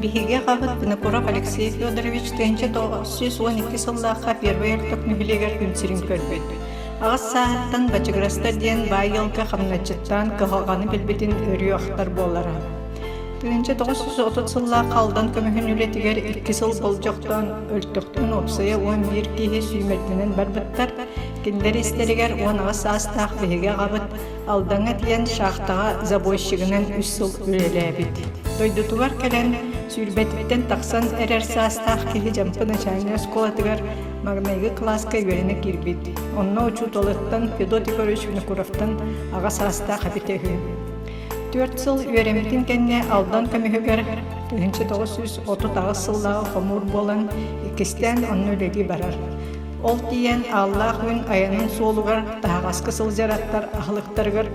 Биһиги аҕабыт Винокуров Алексей Федорович тыһыынча тоҕус сүүс уон икки сыллаахха первый орток үбүлүөйүгэр күн сирин көрбүт. Аҕыс сааһыттан Бачыгырастар диэн баай ыалга хамначчыттаан кыһалҕаны билбитин өрүөхтар буолара. Тыһыынча тоҕус сүүс отут сыллаахха Алдан көмүһүн үлэтигэр икки сыл болдьохтоон өлтөхтүн уопсайа уон биир киһи сүүмэрдэнэн барбыттар. Кинилэр истэригэр уон аҕыс саастаах биһиги аҕабыт Алдаҥа диэн шахтаҕа забойщигынан үс сыл үлэлээбит. Дойдутугар кэлэн, сүүрбэтиттэн тахсан эрэр саастаах киһи Дьампы начальнай оскуолатыгар маҕнайгы кылааска үөрэнэ киирбит. Онно учууталыттан Федот Егорович Винокуровтан аҕа саастаах эбитэ үһү. Түөрт сыл үөрэммитин кэннэ Алдан көмүһүгэр тыһыынча тоҕус сүүс отут аҕыс сыллааҕы хомуур буолан, иккистээн онно үлэлии барар. Ол тиийэн Ааллаах Күн айанын суолугар таһаҕаска сылдьараттар аһылыктарыгар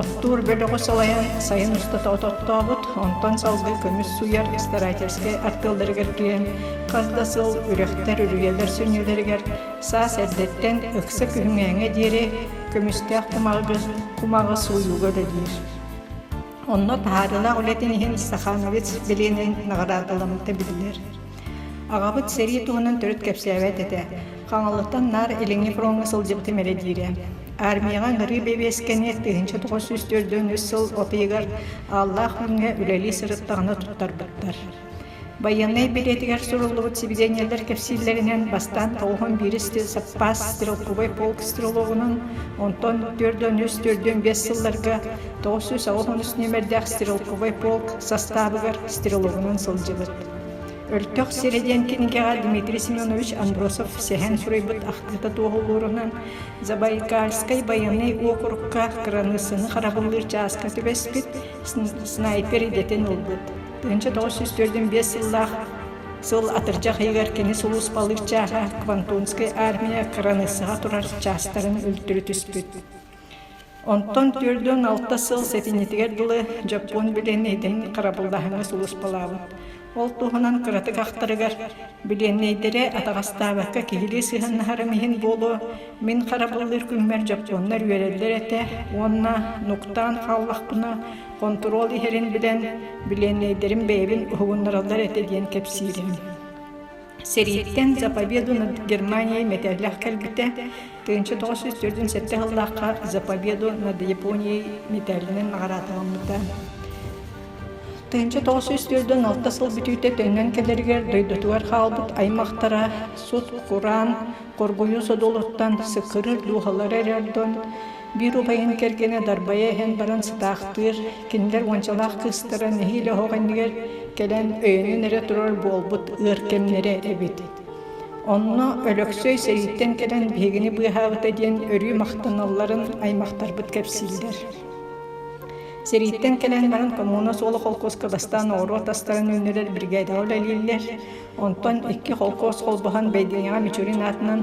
оттуур бөлөҕү салайан сайын устата ототтообут, онтон салгыы көмүс суйар старательскай артыалларыгар киирэн хас да сыл үрэхтэр, үрүйэлэр сүнньүлэригэр саас эрдэттэн ыкса күһүҥээҥҥэ диэри көмүстээх кумаҕы кумаҕы сууйууга үлэлиир. Онно таһаарыылаах үлэтин иһин Сахановец билиэнин наҕараадаламмыта биллэр. Аҕабыт сэрии туһунан төрүт кэпсээбэт этэ. Хаҥалыттан наар Илиҥҥи фроҥҥа сылдьыбытым эрэ диирэ. Армияҕа ыҥырыы бэбиэскэни тыһыынча тоҕус сүүс төрдөн үс сыл от ыйыгар Ааллаах Күҥҥэ үлэлии сырыттаҕына туттарбыттар. Байыаннай билиэтигэр суруллубут сибидиэнньэлэр кэпсииллэринэн, бастаан тоҕуһун биирис тыыл саппаас стрелковай полк стрелогунан, онтон төрдөн үс төрдөн биэс сылларга тоҕус сүүс аҕыс онус нүөмэрдээх стрелковай полк састаабыгар стрелогунан сылдьыбыт. Өртөх сирэ диэн кинигэҕэ Дмитрий Семенович Андросов сэһэн суруйбут ахтыыта туоһу уоруһунан Забайкальскай байыаннай уокурукка кыраныыссаны харабыллыыр чааска түбэспит снайпер идэтин ылбыт. 1904 сыллаах сыл атырдьах ыйыгар кини сулууспалыыр чааһа Квантонскай армия кыраныыссаҕа турар чаастарын өлтүрү түспүт. Онтон түөрт уон алта сыл сэтинньитигэр дылы дьоппуон билиэннэйдэрин харабыллааһыҥҥа сулуспалаабыт. Ол туһунан кыратык ахтарыгар, билиэннэйдэрэ атаҕастаабакка киһилии сыһыаннаһарым иһин буолуо, мин харабыллыыр күммэр дьоппуоннар үөрэллэр этэ уонна нуктаан хааллахпына хонтуруол иһэрин билэн, билиэннэйдэрим бэйэбин уһугуннараллар этэ диэн кэпсиирим Сэрииттэн «Заповеду над Германией» мэтээллээх кэлбитэ. тыһыынча тоҕус сүүс төрдүн сэттэ сыллаахха «Заповеду над Японией» мэтээлинэн наҕараадаланбыта. тыһыынча тоҕус сүүс төрдүн алта сыл бүтүүтэ төннөн кэлэригэр дойдутугар хаалбыт аймахтара сут-кураан хоргуйуу содулуттан сыккырыыр дууһалара эрэ ордон Биир убайын кэргэнэ дарбайа иһэн баран сытаахтыыр, кинилэр уончалаах кыыстара нэһиилэ оһох иннигэр кэлэн өйөнөн эрэ турар буолбут ыар кэмнэрэ эбит. Онно Өлөксөй сэрииттэн кэлэн биһигини быыһаабыта диэн өрүү махтаналларын аймахтарбыт кэпсииллэр. Сэрииттэн кэлэн баран коммуна суола холкуоска бастаан оҕуруот астарын үүннэрэр биригээдэҕэ үлэлииллэр. Онтон икки холкуос холбоһон Бэйдиэҥэҕэ Мичурин аатынан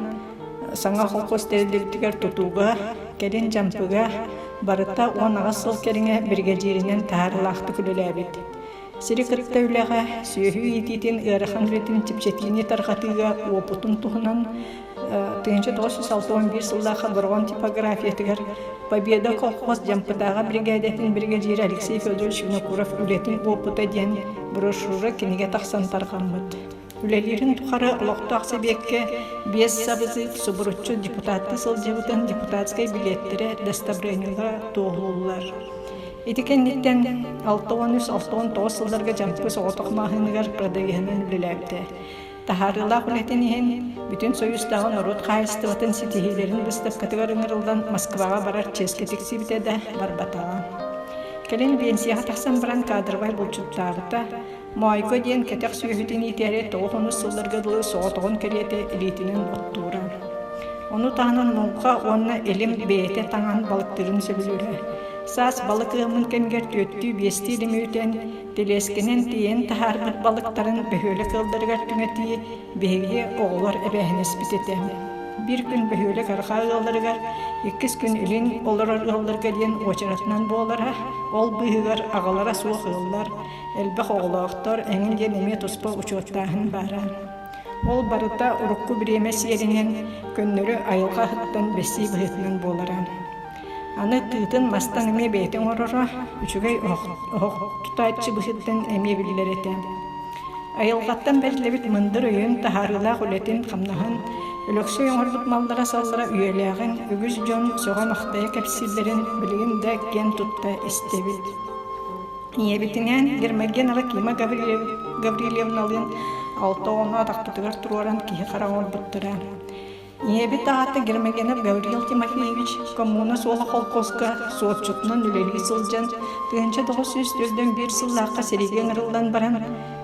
саҥа холкуос тэриллибитигэр тутууга, кэлин Дьампыга барыта уон аҕыс сыл кэриҥэ биригэдьииринэн таһаарыылаахтык үлэлээбит. Сири кытта үлэҕэ, сүөһү иитиитин, ыарахан үлэтин чэпчэтиини тарҕатыыга уопутун туһунан тыйынча тоҕус жүз алта уон биир сыллаахха Бороҕон типографиятыгар Победа колхоз Дьампытааҕа биригээдэтин биригэдьиирэ Алексей Федорович Винокуров «Үлэтин опыта» диэн брошюра кинигэ тахсан тарҕаммыт. Үлэлиирин тухары олохтоох сэбиэккэ биэс сабызыык субуруччу депутатта сылдьыбытын депутатскай билиэттэрэ достобрениега туоһулууллар. Ити кэнниттэн 6 уон үс 6 он тоҕус сылларга Дьампы соҕотох маһыныгар продавиһынан үлэлээбитэ. таһаарыылаах үлэтин иһин Бүтүн Союзтааҕы норуот хаһаайыстыбатын ситиһиилэрин быыстапкатыгар ыҥырыллан Москваҕа барар чиэскэ тиксибитэ да барбатаҕа. Кэлин биэнсийэҕэ тахсан баран кадровай булчуттаабыта, Моойго диэн кэтэх сүөһүтүн иитээри тоҕус онус сылларга дылы соҕотоҕун кэриэтэ илиитинэн оттуура. Ону таһынан муҥха уонна илим бэйэтэ таҥан балыктыырын сөбүлүүрэ. Саас балык ыаммын кэмигэр түөттүү-биэстии илими үтэн, Тэлиэскэнэн тиэйэн таһаарбыт балыктарын бөһүөлэк ыалларыгар түҥэтии биһиги оҕолор эбээһинэспит этэ. Биир күн бөһүөлэк арҕаа ыалларыгар, иккис күн илин олорор ыалларга диэн уочаратынан буолара, ол быыһыгар аҕалара суох ыаллар, элбэх оҕолоохтор эҥин диэн эмиэ туспа учуоттааһын баара. Ол барыта урукку бириэмэ сиэринэн, көннөрү айылҕа аһыттан бэсии быһыытынан буолара. Аны тыытын бастаан эмиэ бэйэтэ оҥороро, үчүгэй оһох оһох тутааччы быһыытынан эмиэ биллэр этэ. Айылҕаттан бэриллибит мындыр өйүн, таһаарыылаах үлэтин, хамнаһын Өлөксөй оҥорбут маллара-саллара үйэлээҕин, үгүс дьон сөҕө-махтайа кэпсииллэрин билигин да киэн тутта истэбит. Ийэбитинээн Гермоген Авакима Гаврильевналыын алта оҕону атахпытыгар туруоран киһи хара оҥорбуттара. Ийэбит аата Гермогенов Гавриил Тимофеевич коммуна суола холкуоска суотчутунан үлэлии сылдьан тыһыынча тоҕус сүүс төрдөн биир сыллаахха сэриигэ ыҥырыллан баран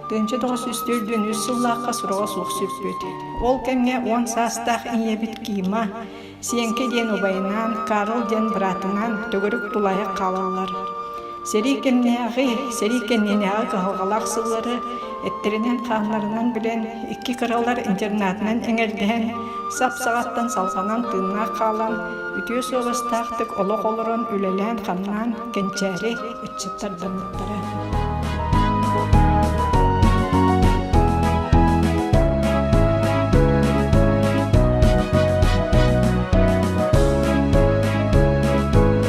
тыһыынча тоҕус сүүс төрдөн үс сыллаахха сураҕа суох сүппүт. Ол кэмҥэ уон саастаах ийэбит Кима, Сиэҥкэ диэн убайынаан Карл диэн быраатыҥаан төгүрүк тулаайах хаалаллар. Сэрии кэннээҕи, сэрии кэннинээҕи кыһалҕалаах сыллары эттэринэн-хааннарынан билэн, икки кыралар интернатынан эҥэрдэһэн, сап-саҕаттан салҕанан тыыннаах хаалан, үтүө суобастаахтык олох олорон үлэлээн-хамнаан кэнчээри ыччаттардаммыттара.